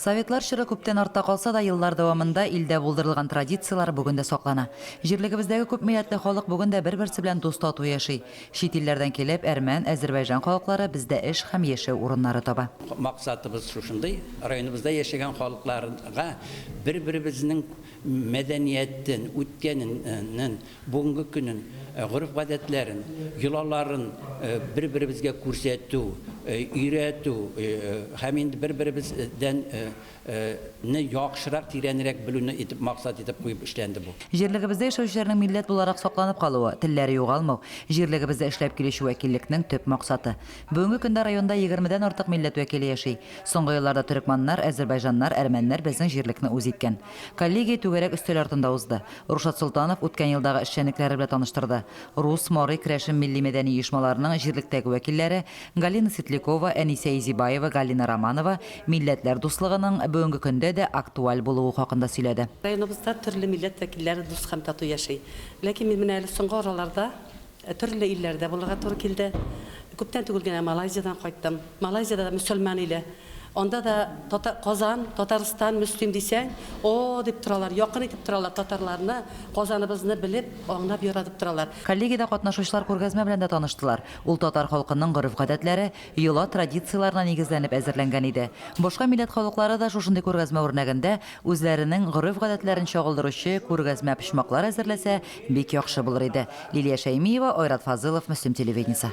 Советлар чоры күптән артта калса да, еллар дәвамында илдә булдырылган традицияләр бүген дә саклана. Җирлегебездәге күпмилләтле халык бүген дә бер-берсе белән дус-тату яши. Чит илләрдән килеп, әрмән, әзербайжан халыклары бездә эш һәм яшәү урыннары таба. Максатыбыз шушындый, районыбызда яшәгән халыкларга бер-беребезнең мәдәниятен, үткәнен, нен, Бүгенге көнен, гореф-гадәтләрен, йолаларын бер-беребезгә күрсәтү, өйрәтү һәм инде бер-беребездән не яхшырак, тирәнрәк белүне итеп максат итеп куеп эшләнде бу. Җирлегебездә яшәүчеләрнең милләт буларак сакланып калуы, телләре югалмау, җирлегебездә эшләп килүче вәкиллекнең төп максаты. Бүгенге көндә районда егермедән артык милләт вәкиле яши. Соңгы елларда төрекманнар, әзербайҗаннар, әрмәннәр безнең җирлекне үз иткән. Коллегия түгәрәк өстәл артында узды. Рушат Солтанов үткән елдагы эшчәнлекләре белә таныштырды. Рус, Марый, Крәшем милли-мәдәни оешмаларының җирлектәге вәкилләре Галина Светлякова, Әнисә Изибаева, Галина Романова милләтләр дуслыгының бүгенге көндә дә актуаль булуы хакында сөйләде. Районыбызда төрле милләт вәкилләре дус һәм тату яши. Ләкин мин менә әле соңгы араларда Төрле илләрдә булырга туры килде. Күптән түгел генә Малайзиядән кайттым. Малайзиядә дә мөселман иле. Анда да тата, Казан, Татарстан, Мөслим дисәң, о, дип торалар, якын итеп торалар татарларны, Казаныбызны белеп, аңлап, яратып торалар. Коллегиядә катнашучылар күргәзмә белән дә таныштылар. Ул татар халкының гореф-гадәтләре, йола, традицияләренә нигезләнеп әзерләнгән иде. Башка милләт халыклары да шушындый күргәзмә үрнәгендә үзләренең гореф-гадәтләрен чагылдыручы күргәзмә почмаклар әзерләсә, Бик яхшы булыр иде. Лилия Шәймиева, Айрат Фазылов, Мөслим телевидениесе.